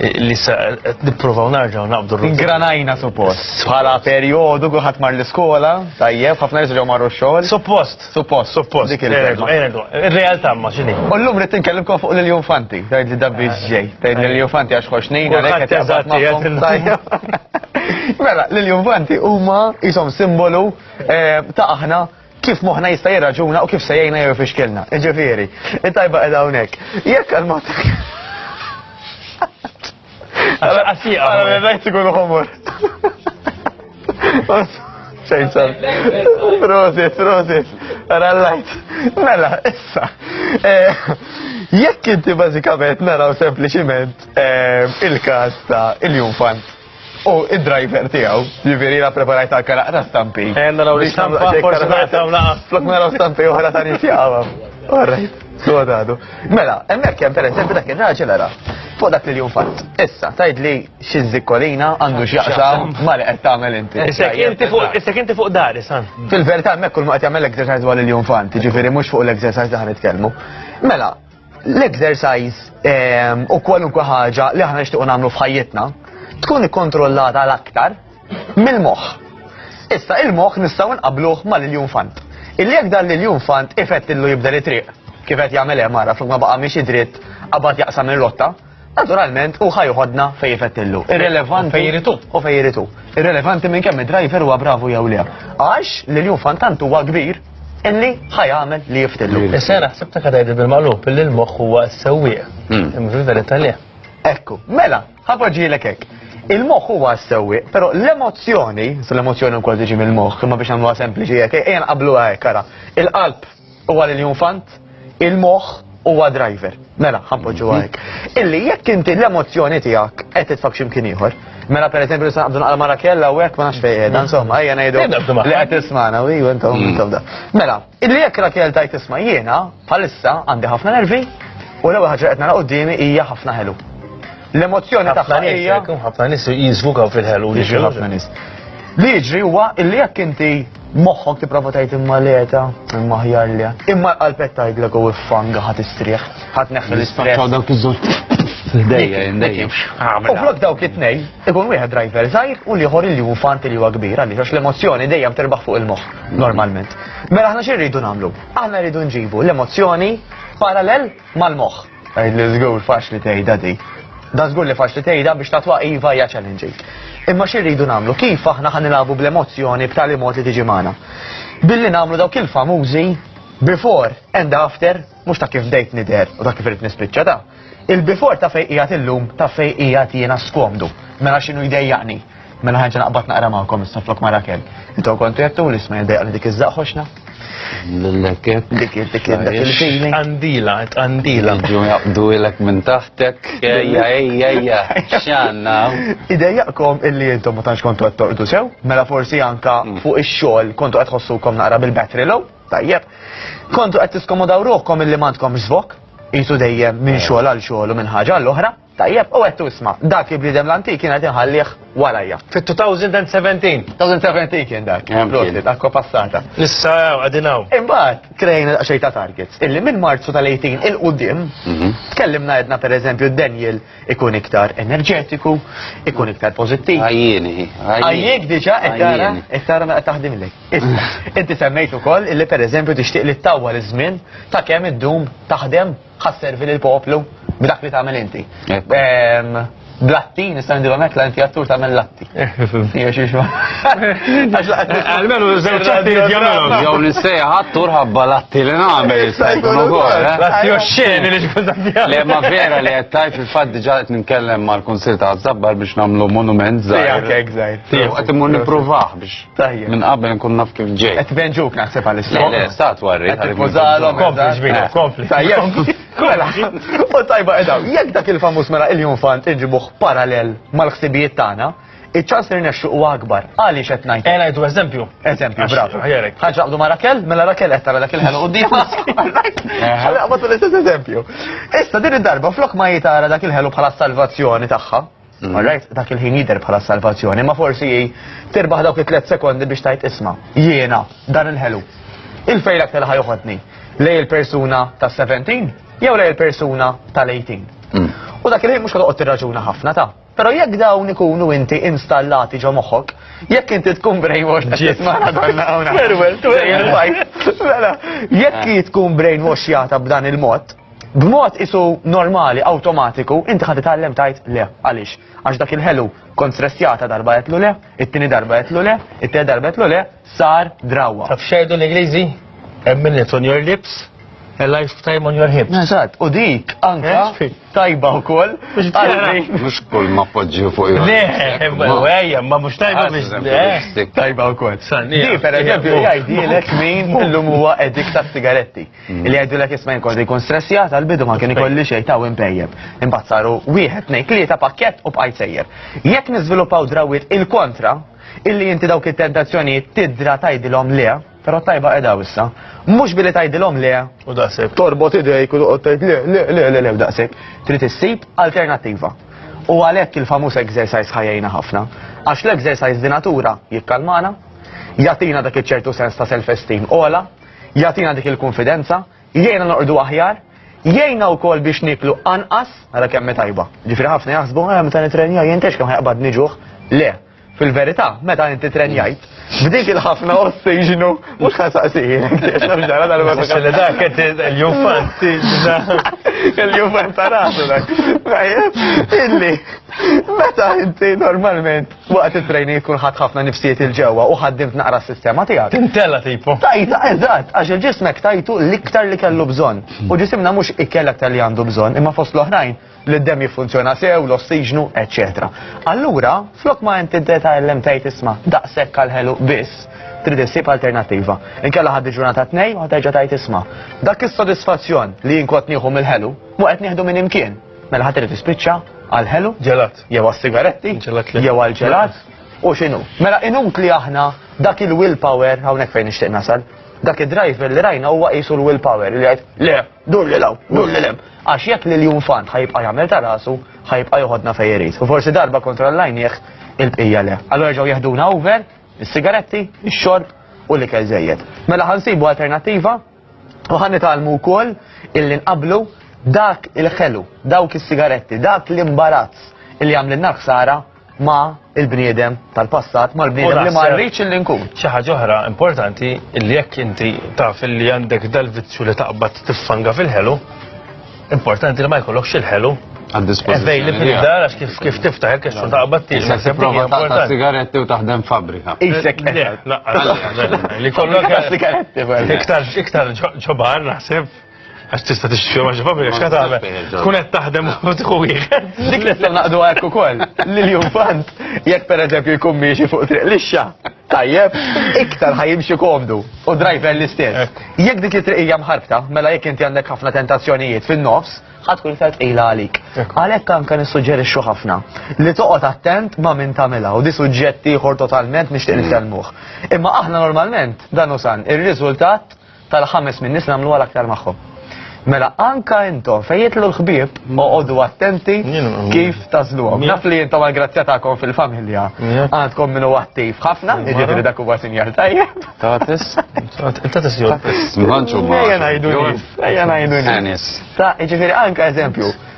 li sa qed nipprovaw narġaw naqbdu r Ingranajna suppost. Bħala perjodu kulħadd mar l-iskola, tajjeb, ħafna nies ġew marru x-xogħol. Suppost, suppost, suppost. Dik il-kelma. Ir-realtà ma x'inhi. U llum rid tinkellimkom fuq lil Jufanti, tgħid li dabbi ġej, tgħid lil Jufanti għax ħox nejna lek qed jażat Mela, lil Jufanti huma isom simbolu eh, ta' aħna kif moħna jista' jirraġuna u kif se jgħinna jew fixkilna. Ġifieri, it-tajba qiegħda hawnhekk. Jekk għal mod. Għasija. Għara rajt ikun ħomor. Xejn sar. Prosit, prosit. Għara l-lajt. Mela, issa. Eh, jekk inti bażikament naraw sempliċiment eh, il-każ ta' il-jumfant. U id-driver tiegħu, jiġifieri la preparajt għal karaq ta' stampi. Eh, naraw li stampa, forsi naraw la. Flok naraw stampi oħra ta' nifjawa. Alright, sodadu. Mela, hemmhekk hemm pereżempju dak ir-raġel ara. Fuq dak li jum fatt. Issa, tajd li xi żikkolina għandu x'jaqsam ma li qed tagħmel inti. Issek inti fuq dar, isan. Fil-verità hemmhekk kull ma qed jagħmel exercise dwar il-jum fatt, jiġifieri mhux fuq l-exercise li ħan nitkellmu. Mela, L-exercise ehm, u kwalunkwe ħaġa li aħna nixtiequ nagħmlu f'ħajjitna tkun ikkontrollata l-aktar mill-moħħ. Issa il-moħħ nistgħu nqabluh mal-iljun fant. Illi jekk dan l-iljun fant ifett illu jibda li triq kif qed jagħmel hemm ara flok ma baqa' mhix dritt qabad jaqsam ir-rotta. naturalment u ħajħodna fej jfettillu. Irrelevanti. Fej jiritu. U fej jiritu. Irrelevanti minn kemm id-driver huwa bravu jew le. Għax li l-jum fantant huwa kbir illi ħajamel li jiftillu. Is-sena ħsibta kadajdi bil-malup illi l-moħħ huwa s-sewwieq. Hmm. Imri verita li. Ekku, mela, ħapoġġielek hekk. Il-moħħ huwa s-sewwieq, però l-emozzjoni, l-emozzjoni wkoll tiġi mill-moħħ, imma biex nagħmluha sempliċi hekk, ejja nqabluha hekk ara. Il-qalb U għal il-infant, il-moħ huwa driver. Mela, ħampoġu mhm. għajk. Illi jekk inti l-emozjoni tiegħek qed titfak x'imkien ieħor. Mela per eżempju li sanqabdu naqal mara kella u hekk ma nafx fejn qiegħda, mhm. insomma, ejja ngħidu li qed tismana u intom mhm. intom da. Mela, illi jekk Rakel tajt tisma' jiena bħalissa għandi ħafna nervi u l-ewwel ħaġa qed nara qudiemi hija ħafna ħelu. L-emozjoni tagħha hija ħafna nies jiżvukaw fil-ħelu li ħafna nies. Li jiġri huwa illi jekk inti Moħħok tipprova tajt imma leta, imma ħjar li. Imma l-qalbet tgħidlek u fanga ħat istrieħ, ħat neħħel l-istrieħ. Ċaw dawk iż-żewġ Dejja, dejja. U flok dawk it-tnej, ikun wieħed driver żgħir u liħor li hu fanti li huwa kbir għaliex għax l-emozzjoni dejjem terbaħ fuq il-moħħ normalment. Mela aħna xi rridu nagħmlu? Aħna rridu nġibu l-emozzjoni parallel mal-moħħ. Għajd li żgur faċli tgħidha di. Da żgur li faċli tgħidha biex tatwa iva hija challenging. Imma xi rridu nagħmlu? Kif aħna ħan nilagħbu bl-emozzjoni b'tali mod li tiġi magħna? Billi nagħmlu dawk il-famużi before and after, mhux ta' kif dejt nider u ta' kif irid nispiċċa ta' il-before ta' fejqijat illum ta' fejqijat jiena skomdu. Mela x'inhu jdejjaqni? Mela ħanġa naqbad naqra magħkom issa flok ma' Rakel. Intom kontu jattu li isma' jidejqa li dik iż-żaq ħoxna. L-lekket. Dik id- dik id- dak il-feeling. Għandila, għandila. Ġu jaqdu ilek minn taħtek. Ejja, ejja, ejja. Xanna. Idejjaqkom illi intom ma tantx kontu qed torqdu sew, mela forsi anka fuq ix-xogħol kontu qed tħossukom naqra bil-battery low, tajjeb. Kontu qed tiskomodaw ruħkom illi m'għandkom żvok, qisu dejjem minn xogħol għal xogħol u minn ħaġa għall-oħra. Tajjeb, u għettu isma, dak il-bnidem l-antik kien għet inħallih warajja. Fit-2017. 2017 kien dak. Prosit, akko passata. Nissa għadinaw. Imbat, krejna xej ta' targets. Illi minn marzu tal-18 il-qoddim, mhm. tkellimna għedna per eżempju Daniel ikun iktar enerġetiku, ikun iktar pozittiv. Għajjini. Għajjik diġa, ettara, ettara naqqa taħdim li. Inti semmejtu kol illi per eżempju tixtiq li t-tawwa l-żmien ta' kemm id-dum taħdem Ħa sservi lill-poplu b'dak li tagħmel inti. Blatti, nista' nidilhom hekk la inti attur tagħmel latti. Jew xi xma. Almenu żewġ ċatti jagħmelhom. Jew nistejja attur ħabba latti li nagħmel jista' jkun ukoll. Eh? Latti oxxeni li xkun tagħmel. Le ma vera li qed tajt fil-fatt diġà qed nitkellem mal-Kunsill ta' Zabbar biex nagħmlu monument żgħir. Jekk hekk żgħir. Qed imur nippruvah biex Tajjeb. Minn qabel nkun naf kif ġej. Qed venġuk naħseb għal istat. Le, stat warri. Qed tippożalhom. Kompli ġbina, eh. kompli. Tajjeb. Mela, u tajba edha, jekk dak il-famuż mela il-jum fant inġibuh parallel mal-ħsibijiet tagħna, iċ-ċans li rnexxu huwa akbar. Għaliex qed ngħid. Ejna jdu eżempju. Eżempju, bravo. Ħaġa qdu ma' Rakel, mela Rakel qed tara dak il-ħelu quddiem. Ħalli qbad l-istess eżempju. Issa din id-darba flok ma jitara dak il-ħelu bħala salvazzjoni tagħha, Mm. Alright, dak il-ħin jider bħala salvazzjoni, ma forsi jie tirbaħ dawk it-tlet sekondi biex tajt isma. Jiena, dan il-ħelu. Il-fejl aktar ħajuħodni lej il-persuna ta' 17 jew lej il-persuna tal-18. Mm. U dak il-ħin mux għadqot raġuna ħafna ta' Pero jekk dawn ikunu inti installati ġo moħħok, jekk inti tkun brainwash ta' jisma' għadonna għawna. Jekk tkun brainwash jata b'dan il-mod, B'mod isu normali, awtomatiku, inti ħad titgħallem tajt le. Għaliex? Għax dak il-ħelu kont stressjata darba jetlu le, it-tieni darba jetlu le, it-tieni darba jetlu le, sar drawa. Taf xejdu l-Ingliżi? A minute on your lips, a lifetime on your hips. Eżatt, u dik anka eh, tajba wkoll. Mhux kull ma poġġi fuq il Le, ejja, ma mhux tajba ah, biex eh, tajba wkoll. Di per eżempju jgħidilek min illum huwa edik tas-sigaretti. Li jgħidu l-ek jisma jinkolli jkun stressjat għal-bidu ma kien ikolli xej ta' impejjeb. Imbagħad saru wieħed ngħid li ta' pakkett u bqajt sejjer. Jekk niżviluppaw drawwiet il-kontra, illi inti dawk it-tentazzjonijiet tidra tgħidilhom le, però tajba qiegħda issa. Mhux billi tgħidilhom le u daqshekk torbot idejk u toqgħod tgħid le le le le le daqshekk. Trid issib alternattiva. U għalhekk il-famuż exercise ħajjejna ħafna. Għax l-exercise di natura jikkalmana, jatina dak iċ-ċertu sens ta' self-esteem ola, jagħtina dik il-kunfidenza, jgħinna noqogħdu aħjar, jgħinna wkoll biex niklu anqas, ara kemm tajba. Ġifieri ħafna jaħsbu ara meta nitrenja jien tex kemm ħajqbad niġuħ. Le, fil-verità, meta inti trenjajt, b'dik il-ħafna ossiġnu, mux ħasaqsijin, xamġara dal Li dak qed il-jufant, il-jufant ta' rasu dak. Illi, meta inti normalment Waqt it-training tkun ħadd ħafna nifsijiet il ġewwa u ħaddimt naqra s-sistema tiegħek. Tintella tipo. Tajta, eżatt, għax il-ġismek tajtu l-iktar li kellu bżonn. U ġisimna mhux ikkel aktar li għandu bżonn, imma fost l-oħrajn li d-dem jiffunzjona sew, l-ossiġnu, eċċetera. Allura, flok ma inti deta ellem tajt isma' daqshekk għal ħelu biss, trid issib alternattiva. Inkella ħaddi ġurnata tnej u ħaterġa' tajt isma'. Dak is-sodisfazzjon li jinkot nieħu mill-ħelu, mu qed nieħdu minn imkien. Mela ħadd irid tispiċċa għal ħelu ġelat. jew għas-sigaretti, jew għal-ġelat, u xinu. Mela inut li aħna dak il-willpower, hawnhekk fejn nixtieq nasal, dak id-driver li rajna huwa qisu l-willpower li jgħid, le, dur li law, dur li lem. Għax jekk li l-jum fan ħajbqa' jagħmel ta' rasu, ħajbqa' joħodna fejn irid. U forsi darba kontrollajnieh il-bqija le. Allora ġew jeħduna over, is-sigaretti, ix-xorb u l-ikel żejjed. Mela ħansibu alternattiva U ħan nitalmu wkoll illi nqablu dak il-ħelu, dawk is-sigaretti, dak l-imbarazz illi għamlin naħsara ma il-bniedem tal-passat, ma l-bniedem li ma rridx illi nkun. Xi ħaġa oħra importanti illi jekk inti taf illi għandek dal-vizzju li taqbad tiffanga fil-ħelu, Importanti li ma jkollokx il-ħelu Għad-dispozizjoni. Ej, li dar għax kif kif tiftaħ il-kex u taqbad tiġi. Se tipprova taqta sigaretti u taħdem fabrika. Isek Li kollok sigaretti. Iktar iktar ġobar naħseb għax tista tixtri ma ġifabri, għax kata għamel. Tkun qed taħdem u tħu wieħed. Dik li naqdu għek ukoll. Lil jumfant, jekk per eżempju jkun miexi fuq triq lixxa, Tajjeb, iktar ħajimxi komdu u driver l-istess. Jekk dik it-triqija mħarbta, mela jekk inti għandek ħafna tentazzjonijiet fin-nofs, ħatkun iktar tqila għalik. Għalhekk anke nissuġġerixxu ħafna li toqgħod attent ma' min tagħmilha u di suġġett ieħor totalment nixtieq nitkellmuh. Imma aħna normalment dan usan ir-riżultat tal-ħames min-nies nagħmluha l-aktar magħhom. Mela, anka intom, fejn jitlu l-ħbib, oqogħdu attenti kif tażluhom. Naf li intom għal-grazzja tagħkom fil-familja. Għandkom minnu attiv ħafna, jiġifieri dak huwa sinjal tajjeb. Tatis, tatis jew. Ejja ngħidu. Ejja ngħidu. Tanis. Ta' jiġifieri anka eżempju.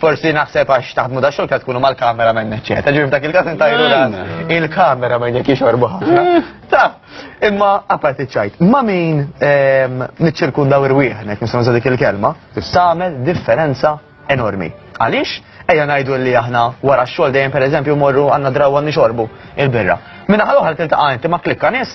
Forsi naħseb għax taħdmu da xogħol tkunu mal-kamera minn eċċetera. Ġifieri f'dak il-każ intajru il-kamera minn jekk jixorbu ħafna. Eh. Ta, imma apparti ċajt, ma min ehm, niċċirkundaw irwieħnek nisma' dik il-kelma, tagħmel differenza enormi. Għaliex? Ejja ngħidu li aħna wara x-xogħol dejjem pereżempju morru għandna draw għandni xorbu il-birra. Minna ħal oħra tiltaqa' inti ma klikka nies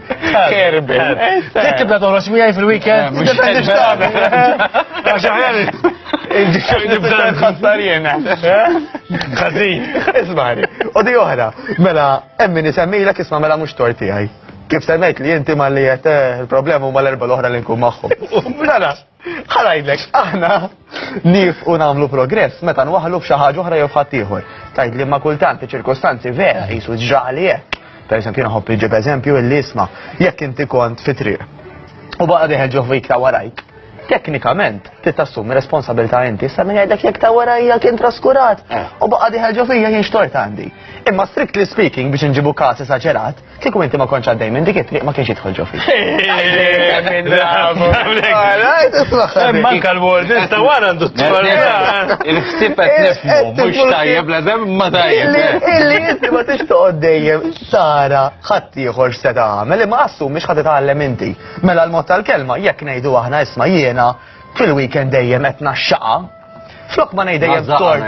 Kerbin. Tibda eh, eh. toħroġ miegħi fil-weekend. Għax aħjar nibda nħassar jiena. Ħażin. Ismari. U di oħra, mela hemm min isemmilek isma' mela mhux tor tiegħi. Kif semmejt li inti malli qed eh, il-problema huma l-erba' l-oħra li nkun magħhom. Mela, Ħarajdlek, aħna nif u namlu progress meta nwaħlu f'xi ħaġa oħra jew f'ħadd ieħor. Tajt li ma kultant iċ-ċirkostanzi vera jisu ġraħli hekk. Per eżempju, naħobb iġib eżempju illi isma' jekk inti kont fi triq. U baqa' deħel ġo fik ta' warajk. Teknikament, ti tassumi responsabilità inti, sa' minn jgħidlek jekk ta' warajja kien traskurat. Eh. U baqa' deħel ġo fija jien xtort għandi. Imma strictly speaking biex nġibu każ esaġerat, Kieku inti ma konċ għaddej minn dik it-triq ma kienx jidħol ġo fik. Manka l-word, sta wara għandu Il-ħsib qed nifmu, mhux tajjeb la dem ma tajjeb. Illi inti ma tix toqgħod dejjem tara ħadd ieħor se tagħmel imma assu mhux ħadd tagħlem inti. Mela l-mod tal-kelma jekk ngħidu aħna isma' jiena fil-weekend dejjem qed naxxaqa Flok ma ngħid dejjem tort.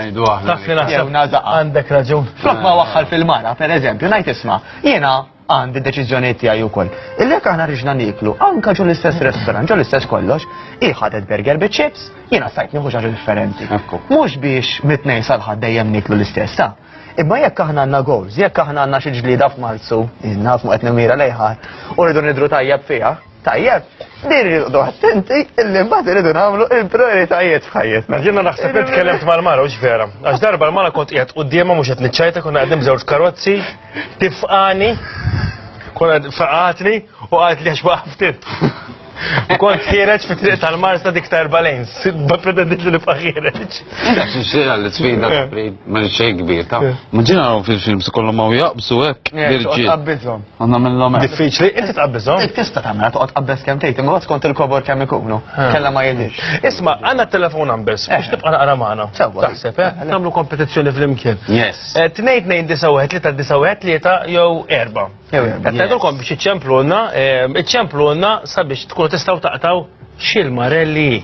Dak li naħseb għandek raġun. Flok ma waħħal fil-mara, pereżempju, ngħid isma' jiena għandi deċiżjonijiet tiegħi wkoll. Illek aħna riġna niklu, anka ġu l-istess restaurant, ġu l-istess kollox, iħadet burger bi chips, jiena sajt nieħu xi differenti. Mhux biex mitnej salħad dejjem niklu l-istess, ta' Imma jekk aħna għandna goals, jekk aħna għandna xi ġlieda f'Marzu, inna fuq qed nimira lejħat, u rridu nidru tajjeb fiha, Tajjeb, din irridu attenti illi mbagħad irridu nagħmlu il-prioritajiet f'ħajjetna. Jiena naħseb li tkellimt mal-mara u vera. Għax darba l-mara kont qiegħed quddiemha mhux qed niċċajta konna qegħdin b'żewġ karozzi, tifqani, konna faqatni u qalet li għax waqftit. U kont ħireġ fi triq tal-Marsa dik ta' erba' lejns, ma pretendit li nibqa' ħireġ. Xira li sfida ma xejn kbir ta'. Ma ġina fil-films kollhom ma jaqbsu hekk. Birġi. U namillom hekk. Diffiċli, inti tqabbiżhom. Int tista' tagħmel toqgħod qabbes kemm tgħid, imma skont il-kobor kemm ikunu. Kellha ma jidhirx. Isma', għandna t-telefon numbers, biex tibqa' naqra magħna. Sewwa. Taħseb, eh? Nagħmlu kompetizzjoni flimkien. Yes. Eh, Tnejn tnejn disa' wieħed tlieta disa' wieħed tlieta jew erba'. Jew erba'. Qed ngħidulkom biex iċċemplulna, eh, iċċemplulna sabiex tkunu tistgħu taqtaw x'il-marelli.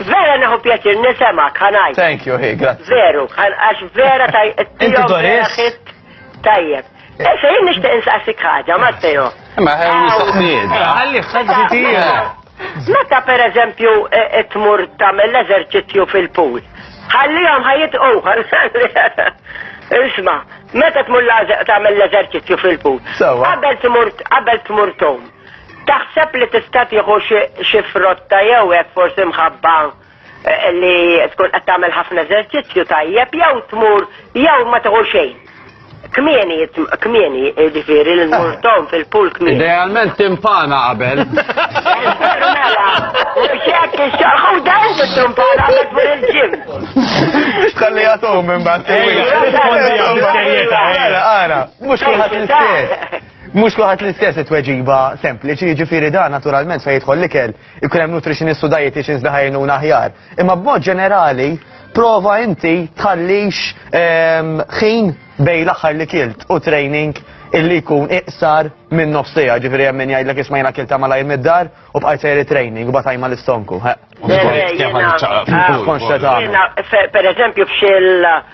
Vera neħu pjaċir nisemak, ħanaj. Thank you, hi, grazzi. Veru, għax vera taj. Inti Doris? Tajjeb. Issa eh, jien nixtieq insaqsik ħaġa, Matteo. Ma ħew mistoqsijiet. Eh, ħalli ħaġitija. Meta per eżempju eh, tmur tagħmel l-eżerċizzju fil-pool, ħallihom ħajjit uħar. Isma, meta tmur tagħmel l-eżerċizzju fil-pool. Qabel tmur qabel tmur tom. Taħseb li tista' tieħu xi xi frotta jew hekk forsi mħabba li tkun qed tagħmel ħafna eżerċizzju tajjeb jew tmur jew ma tieħu xejn. Kmieni, kmieni, ġifieri li tmur tom fil-pool kmieni. Idealment timpana qabel. Mela, mhux hekk ix-xogħol hu dan bit-tumpana għandek tmur il-ġim. X'talli jagħtuhom imbagħad. Ejja, rispondi għal serjetà, ejja. Ara, mhux kulħadd l-istess. Mhux kulħadd l-istess it-tweġiba sempliċi, jiġifieri dan naturalment fejn jidħol l-ikel, ikun hemm nutritionist u dietitians li ħajnuna aħjar. Imma b'mod ġenerali, prova inti tħallix ehm, ħin bej l-aħħar li kilt u training illi jkun iqsar minn nofsija, ġifieri hemm min jgħidlek isma' jiena kilt ta' malajr mid-dar u bqajt sejri training u batajma l-istonku. Konxta ta' per eżempju f'xil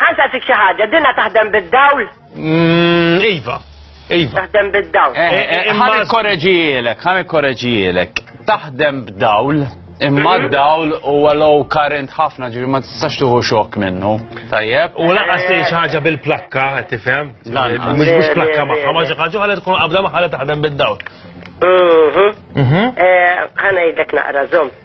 Ħan saqsik xi ħaġa, dinha taħdem bid-dawl? Mm, iva. Iva. Taħdem bid-dawl. Eh, eh, eh, ħan ikkoreġijielek, ħan ikkoreġijielek. Taħdem b'dawl, imma mhm. d-dawl u għallow current ħafna ġivi ma tistax tuħu xok minnu. Tajjeb. U laqqas li ħaġa bil-plakka, tifhem? Mhux mhux plakka magħha, ma xi ħaġa ħalet tkun qabda ma ħalet taħdem bid-dawl. Mhm. Mhm. Ħana jidlek naqra żomm.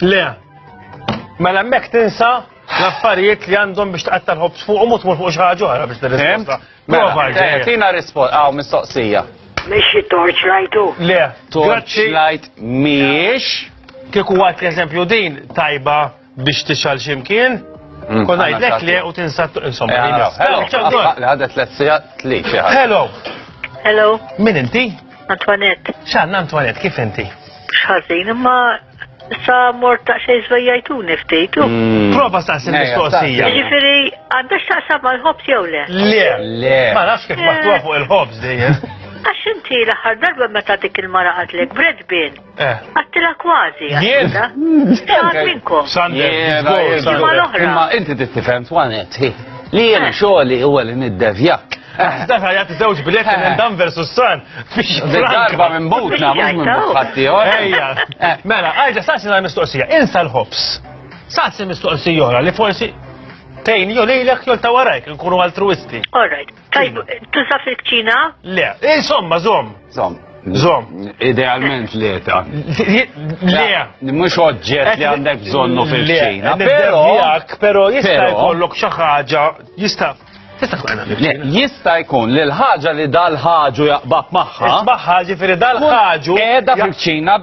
Le, mela mek tinsa l-affarijiet li għandhom biex taqatta l-ħobs fuq u mutmur fuq xaħġu oħra biex t-risposta. Mela, mela eh, tina risposta, għaw mistoqsija. Mexxi torchlight u. Le, torchlight miex. Kieku għat l-eżempju din tajba biex tixal ximkien, Mm. Kon għajdlek li u tinsa insomma. Eh, Hello. Hello. Hello. Hello. Min inti? Antoinette. Xan, Antoinette, kif inti? Xħazin, imma sa mort ta' xej zvejjajtuni ftit. Mm. Prova sa' sin mistoqsija. Ġifiri, għandax ta' sa' mal-ħobs jew le? Le, le. Ma nafx kif maħtuwa fuq il-ħobs dejjem. Għax inti l-aħħar darba meta dik il-mara għadlek bredbin. Eh. Għattila kważi, għattila. Xaħat minnkom. Sander, imma inti tittifem twanet, li jem eh. xoħli u għalli niddevjak. Eh. Dak għajat zewġ biljetti minn dan versus san. Darba minn butna, mux minn buħatti, Ejja. Mela, għajġa, saqsi għal mistoqsija, insa l-ħobs. Saqsi mistoqsija li forsi tejn jolilek jol tawarajk, nkunu altruisti. All right. Tajb, tuża fil-kċina? Le, insomma, zom. Zom. Zom. Idealment le ta. Le. Mux oġġet li għandek bżonnu fil-kċina. Pero, pero jista' jkollok xi ħaġa, jista' Jista' jkun li l-ħaġa li dal-ħaġu jaqbab magħha. Isbaħħa ġifieri dal-ħaġu. Qiegħda fil-kċina.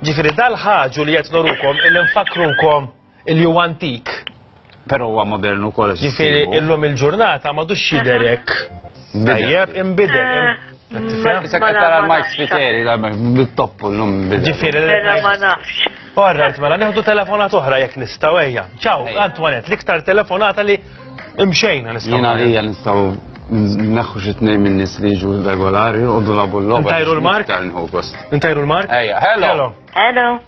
Ġifieri dal-ħaġu li qed norukom il-infakrukom Illi huwa antik. Però huwa modern ukoll. Ġifieri illum il-ġurnata ma dux jidher hekk. Tajjeb, imbidel. Issa qed tara l-Mike Spiteri, bit-toppu l-lum bidel. Ġifieri l-lum ma nafx. Orrajt, mela, neħdu telefonat oħra jekk nistaw ejja. Ċaw, Antoinette, l-iktar telefonata li imxejna nistaw. Jena li jgħan nistaw Naħħu xi tnejn minn nies li jiġu regolari u dulabu l-logħba. Intajru l-mark? Intajru l-mark? Ejja, hello. Hello.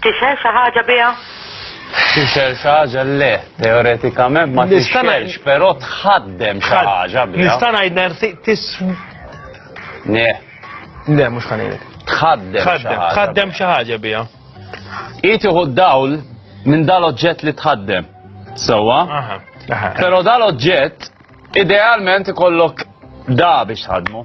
Tixhel xi ħaġa biha? Tixhel xi ħaġa le, teoretikament ma tixhelx, però tħaddem xi ħaġa biha. Nista' ngħid nersi tis. Ne. Le, mhux ħanejlek. Tħaddem. Tħaddem xi ħaġa biha. Itiħu d-dawl minn dal-oġġett li tħaddem. Sewwa? Però dal-oġġett idealment ikollok da biex tħaddmu.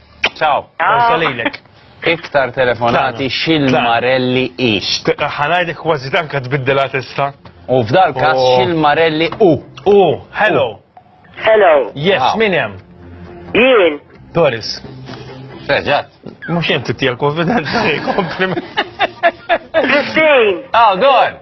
Ciao, Ciao. lilek. Iktar telefonati xil-marelli i. Ħanajdi kważi tanka tbiddela tista. U f'dal kas oh. xil-marelli u. U, hello. Hello. Yes, min hemm? Jien. Doris. Reġat. Mux jem tittija konfidenza, kompliment. Christine. Oh, go on.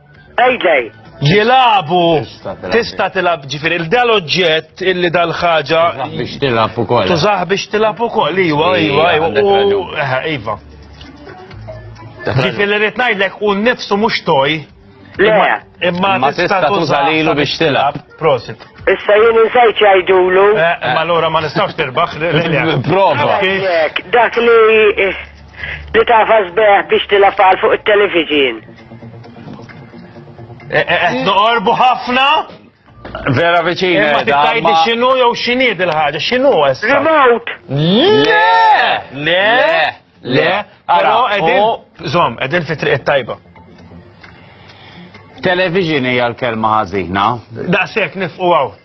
Payday. Jilabu tista' tilab ġifieri il-dal oġġett illi dal-ħaġa. Biex tilab ukoll. Tużaħ biex tilab ukoll, iva, iva, iva. Iva. Ġifieri rrid ngħidlek u nnifsu mhux toj. Imma tista' tuża lilu biex tilab. Prosit. Issa jien insajt jgħidulu. Eh, eh, ma lura ma nistgħux tirbaħ. Prova. Dak li eh, li tafas beħ biex tilab fuq it-television. Eh, eh, eh, Noqorbu ħafna? Vera viċin. Ma tittajdi xinu jew xini dil-ħagġa, xinu għessa? Remote. Le! Le! Le! Għara, edin, zom, edin fi triq tajba. Television hija l-kelma ħażina. Daqshekk nifqu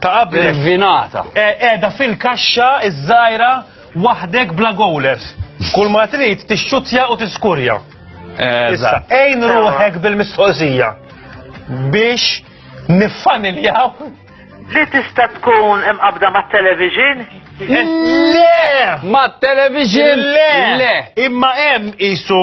Ta' qabel. Vinata. Qiegħda fil-kaxxa iż-żgħira waħdek bla gowlers. Kull ma trid tixxuttja u tiskurja. Issa, ejn ruħek bil-mistoqsija biex niffaniljaw li tista' tkun imqabda mat-television? Le! Mat-television? Le! Imma hemm isu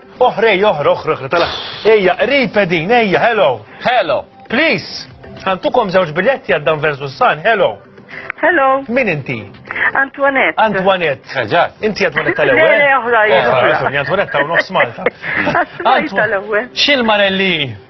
Oħr ej oħr oħr oħr tala. Ejja, qrib edin, ejja, hello. Hello. Please. Għantukom żewġ biletti għaddan Dan versus San, hello. Hello. Min inti? Antoinette. Antoinette. Eżatt. Eh, inti Antoinette tal-ewwel. Le, oħra, oħra. Antoinette ta' nofs Malta. Antoinette tal-ewwel. Xil-marelli?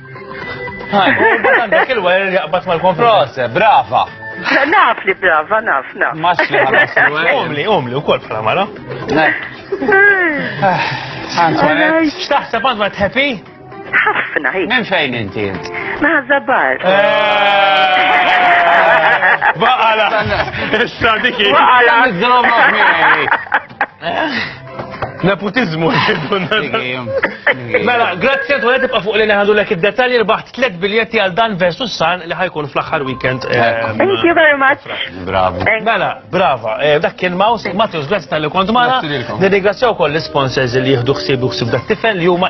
Għandek il-wer jaqbad mal-konfront, brava. Naf li brava, naf, naf. Maċli ħalas Umli, umli, u kol bħala mara. Xtaħseb għand ma tħepi? ħafna hi. Minn fejn inti? Ma' zabar. Eh. Baqala. Issa dikki. Baqala. Nepotizmu. Mela, grazzi għantu għed tibqa fuq li neħadu l id-detalji rbaħt tlet biljetti għal dan versus san li ħajkun fl-axar weekend. Eh, Thank you very much. Bravo. Mela, brava. Eh, dak kien Maus, Matthews, grazzi tal-li kont mara. Nirringrazzjaw koll l-sponsors li jihdu xsib u xsib dak tifel li huma